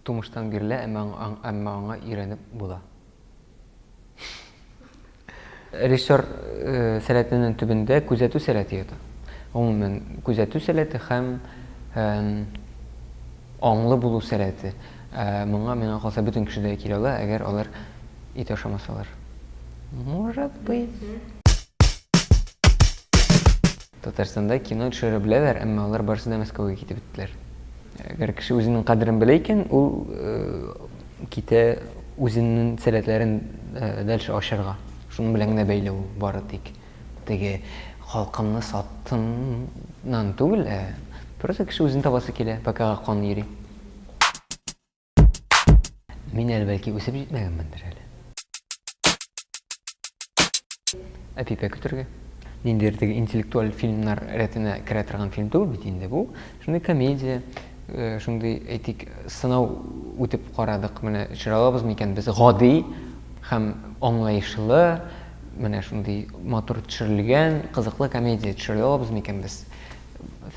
тумыштан бирле, әмма, әмма аңа өйрәнеп була. Режиссер э, сәләтенең төбендә күзәтү сәләте ята. Гомумән, күзәтү сәләте һәм э, аңлы булу сәләте. Э, моңа миңа калса бөтен кешедә килә ала, әгәр алар Ит ашамасалар. Может быть. Татарстанда кино төшерә беләләр, әмма алар барысы да Мәскәүгә китеп беттеләр. Әгәр кеше үзенең кадерен белә икән, ул э, китә үзенең сәләтләрен э, дальше ачарга. Шуның белән генә бәйле ул бары тик. Теге халкымны саттымнан түгел, ә просто кеше үзен табасы килә, пока кан йөри. Мин әле бәлки үсеп җитмәгәнмендер әле. Әпипә көтергә. Ниндер теге интеллектуаль фильмнар рәтенә керә торган фильм түгел бит инде бу. Шундый комедия, э, шундый әйтик, сынау үтеп карадык. Менә чыралабыз микән без гади һәм аңлаешлы, менә шундый матур төшерелгән, кызыклы комедия төшерә алабыз микән без?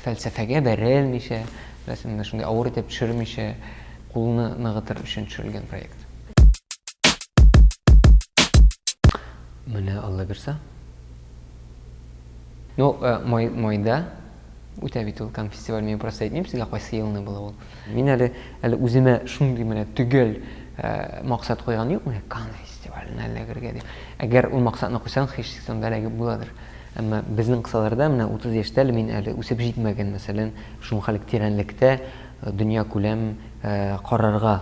фәлсәфәгә бәрелмичә, беләсең, менә шундый авыр итеп төшермичә, кулны ныгытыр өчен төшерелгән проект. Менә Алла бирса. Ну, э, май, майда үтә бит ул конфестиваль, мин просто әйтмим сезгә кайсы елны була ул. Мин әле әле үземә шундый менә төгәл максат куйган юк, менә Кан фестиваленә эләгергә дип. Әгәр ул максатны куйсаң, һичшиксез анда эләгеп буладыр. Әмма безнең кысаларда менә 30 яшьтә әле мин әле үсеп җитмәгән, мәсәлән, шунхалык тирәнлектә дөнья күләм карарга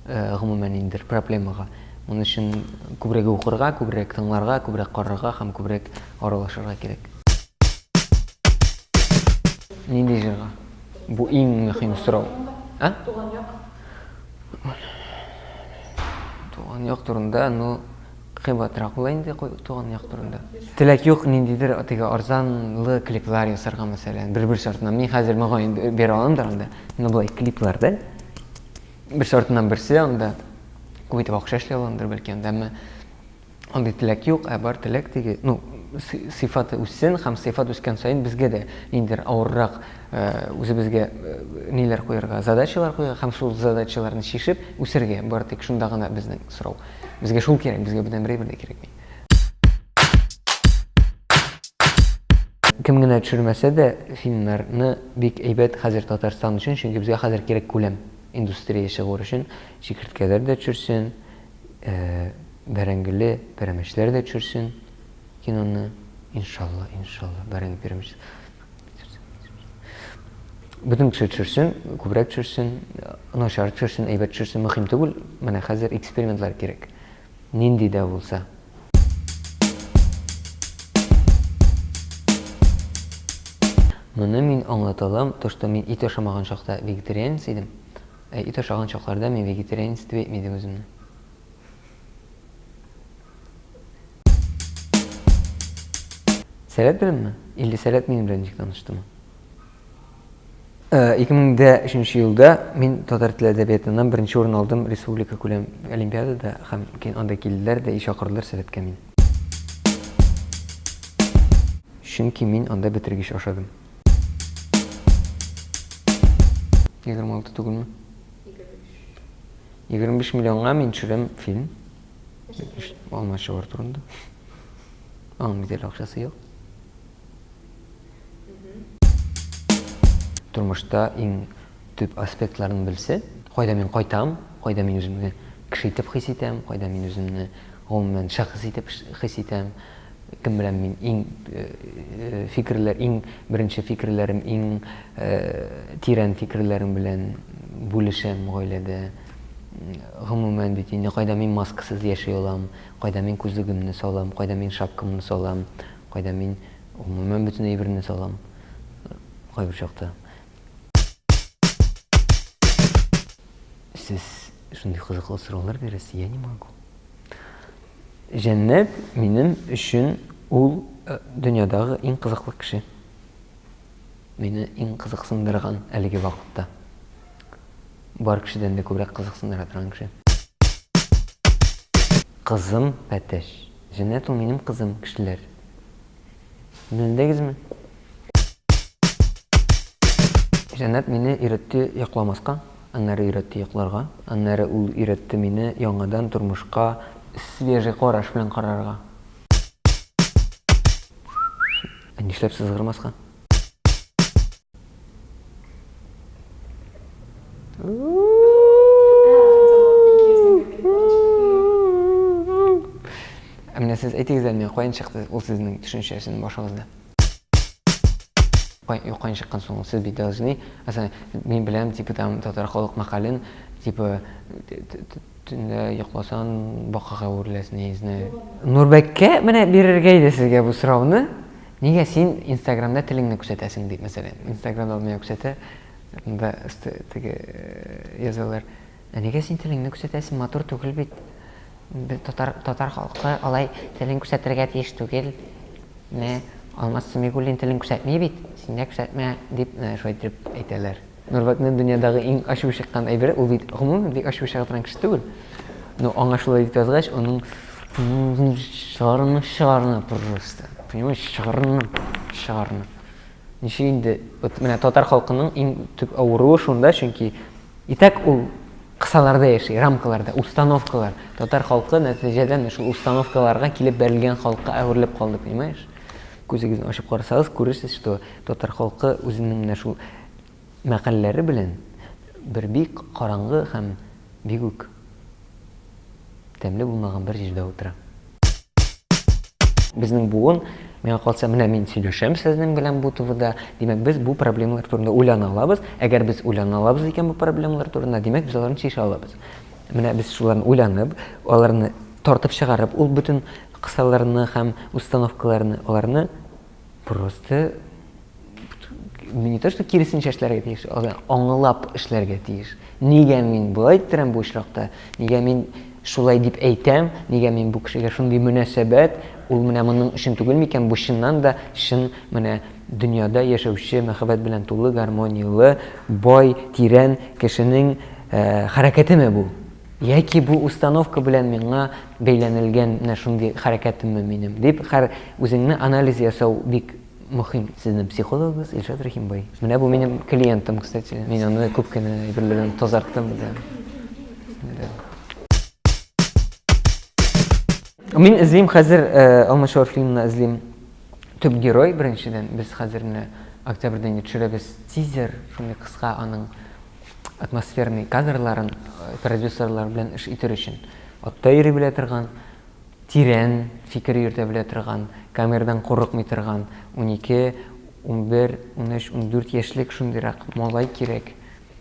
гомумән инде проблемага. Моның өчен күбрәк укырга, күбрәк тыңларга, күбрәк карарга һәм күбрәк аралашырга кирәк. Нинди җырга? Бу иң мөһим сорау. Ә? Туган як. Туган як турында, ну, кыйбатрак була инде туган як турында. Теләк юк, ниндидер теге арзанлы клиплар ясарга мәсәлән, бер-бер шартына. Мин хәзер мөгаен бер аламдыр анда. Ну, булай клиплар да. Бер шартыннан берсе анда. Күп итеп акча эшли аламдыр бәлки анда, әмма Андый теләк юк, ә бар теләк теге, ну, сыйфаты үссен һәм сыйфат үскән саен безгә дә ниндидер авыррак э, үзебезгә э, ниләр куярга, задачалар куярга һәм шул задачаларны чишеп үсәргә. Бары тик шунда гына безнең сорау. Безгә шул кирәк, безгә бүтән берәй бер дә кирәкми. Кем генә төшермәсә дә, финнарны бик әйбәт хәзер Татарстан өчен, чөнки безгә хәзер кирәк күләм индустрия чыгуы өчен чикерткәләр дә төшерсен, Бәрәңгеле пәрәмәчләр дә төшерсен киноны, иншалла, иншалла, бәрәңге пәрәмәч. Бөтен кеше төшерсен, күбрәк төшерсен, начар төшерсен, әйбәт төшерсен, мөһим түгел. Менә хәзер экспериментлар кирәк. Нинди дә булса. Моны мин аңлата алам, то, что мин ит ашамаган чакта вегетарианец идем. Ә ит ашаган чакларда мин вегетарианец дип әйтми идем үземне. Сәләт беләнме? Или сәләт минем белән ничек таныштымы? 2003 елда мин татар теле әдәбиятыннан беренче урын алдым республика күләм олимпиадада һәм кин анда килделәр дә и чакырдылар сәләткә мин. Чөнки мин анда бетергеч ашадым. Егерме алты түгелме? Егерме биш миллионга мин төшерәм фильм. Алмашчылар турында. Аның бит әле акчасы юк. Тормышта иң төп аспектларын белсә, кайда мин кайтам, кайда мин үземне кеше итеп хис итәм, кайда мин үземне гомумән шәхес итеп хис итәм, Кем белән мин иң фикерләр, иң беренче фикерләрем, иң тирән фикерләрем белән бүлешәм гаиләдә. Гомумән бит инде кайда мин маскасыз яши алам, кайда мин күзлегемне салам, кайда мин шапкамны салам, кайда мин гомумән бөтен әйберне салам. Кайбер чакта. Сез шундый кызыклы сораулар бирәсез, я не могу. Җәннәт минем өчен ул дөньядагы иң кызыклы кеше. Мине иң кызыксындырган әлеге вакытта. Бар кешедән дә күбрәк кызыксындыра торган кеше. Кызым Пәтәч. Җәннәт ул минем кызым, кешеләр. Белдегезме? Җәннәт мине өйрәтте йокламаска, аннары өйрәтте йокларга, аннары ул өйрәтте мине яңадан тормышка свежий караш белән карарга. Ә нишләп сызгырмаска? Ә менә сез әйтегез әле миңа, каян чыкты ул сезнең төшенчәсен башыгызда? Кай, юккан чыккан соң сез бит должны, мин беләм, типа там татар халык мәкален, типа Төнлә йокласаң, бакага әвереләсең, я не знаю. Нурбәккә менә бирергә иде сезгә бу сорауны. Нигә син Инстаграмда телеңне күрсәтәсең дип, мәсәлән. Инстаграмда ул миңа күрсәтә. Анда өсте теге э, язалар. Ә нигә син телеңне күрсәтәсең? Матур түгел бит. Бе- Татар татар халкы алай телен күрсәтергә тиеш түгел. Менә Алмаз Сәмигуллин телен күрсәтми бит. Син дә күрсәтмә дип, менә шулай итеп әйтәләр. Нурбәкнең дөньядагы иң ачуы чыккан әйбере, ул бит гомумән бик ачуы чыга торган кеше түгел. Но аңа шулай дип язгач, аның чыгарны чыгарны просто. Понимаешь, чыгарны чыгарны. Ничек инде вот менә татар халкының иң төп авыруы шунда, чөнки итәк ул кысаларда яши, рамкаларда, установкалар. Татар халкы нәтиҗәдән шул установкаларга килеп бәрелгән халыкка әверелеп калды, понимаешь? Күзегезне ачып карасагыз, күрерсез, что татар халкы үзенең менә шул мәкальләре белән бер бик караңгы һәм бик үк тәмле булмаган бер җирдә утыра. Безнең буын, миңа калса, менә мин сөйләшәм сезнең белән бу ТВда, димәк, без бу проблемалар турында уйлана алабыз. Әгәр без уйлана алабыз икән бу проблемалар турында, димәк, без аларны чишә алабыз. Менә без шуларны уйланып, аларны Тартып чыгарып, ул бөтен кысаларны һәм установкаларны, аларны просто не то что киресенчә эшләргә тиеш, аңлап эшләргә тиеш. Нигә мин болай иттерәм бу очракта? Нигә мин шулай дип әйтәм? Нигә мин бу кешегә шундый мөнәсәбәт? Ул менә моның өчен түгел микән? Бу чыннан да чын менә дөньяда яшәүче, мәхәббәт белән тулы, гармонияле, бай, тирән кешенең хәрәкәтеме бу? Яки бу установка белән миңа бәйләнелгән менә шундый хәрәкәтемме минем? дип, хәр үзеңне анализ ясау бик мөһим. Сезнең психологыгыз Илшат Рәхимбай. Менә бу минем клиентым, кстати. Мин аны күп кенә әйберләрдән тазарттым да. Мин эзлим хәзер Алмачуар фильмына эзлим төп герой беренчедән. Без хәзер менә октябрьдә инде төшерәбез тизер, шундый кыска аның атмосферный кадрларын продюсерлар белән эш итер өчен атта йөри белә торган, тирән фикер йөртә белә торган, камерадан курыкмый торган 12, 11, 13, 14 яшьлек шундыйрак малай кирәк,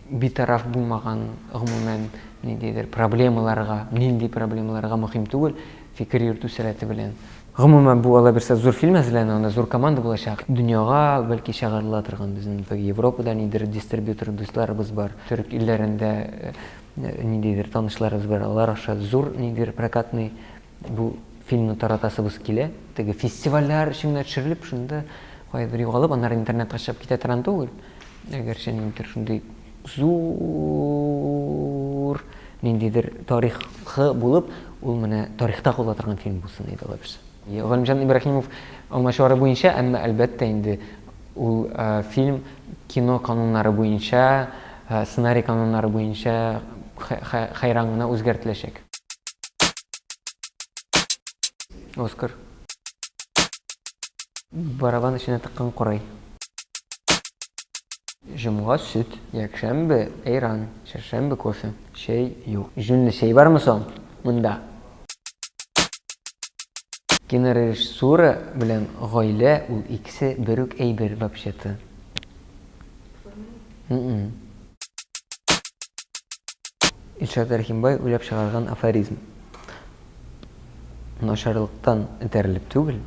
битараф булмаган, гомумән, ниндидер проблемаларга, нинди проблемаларга мөһим түгел, фикер йөртү сәләте белән. Гомумән, бу алабирса зур фильм әзерләнә, анда зур команда булачак. Дөньяга, бәлки, чыгарыла торган безнең теге Европада нидер дистрибьютор дусларыбыз бар. Төрек илләрендә ниндидер танышларыбыз бар, алар аша зур нидер прокатный бу фильмны таратасыбыз килә. Теге фестивальләр өчен генә төшерелеп, шунда кайбер югалып, аннары интернетка чыгып китә торган түгел. Әгәрчә ниндидер шундый Зур ниндидер тарихы булып, ул менә тарихта кала торган фильм булсын иде, алай булса. Галимҗан Ибраһимов алмачуары буенча, әмма, әлбәттә инде, ул фильм кино кануннары буенча, сценарий кануннары буенча хәйран гына үзгәртеләчәк. Оскар. Барабан эченә тыккан корай. Җомга сөт, якшәмбе әйран, чәршәмбе кофе, чәй юк. Җүнле чәй бармы соң монда? Кинорежиссура белән гаилә ул икесе бер үк әйбер вообще-то. Илшат Рәхимбай уйлап чыгарган афоризм. Начарлыктан этәрелеп түгел,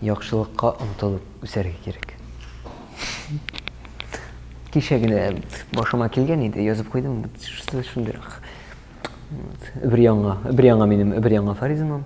яхшылыкка омтылып үсәргә кирәк. Кичә генә башыма килгән иде, язып куйдым, шундыйрак. Бер яңа, бер яңа минем, бер яңа Фаризмам.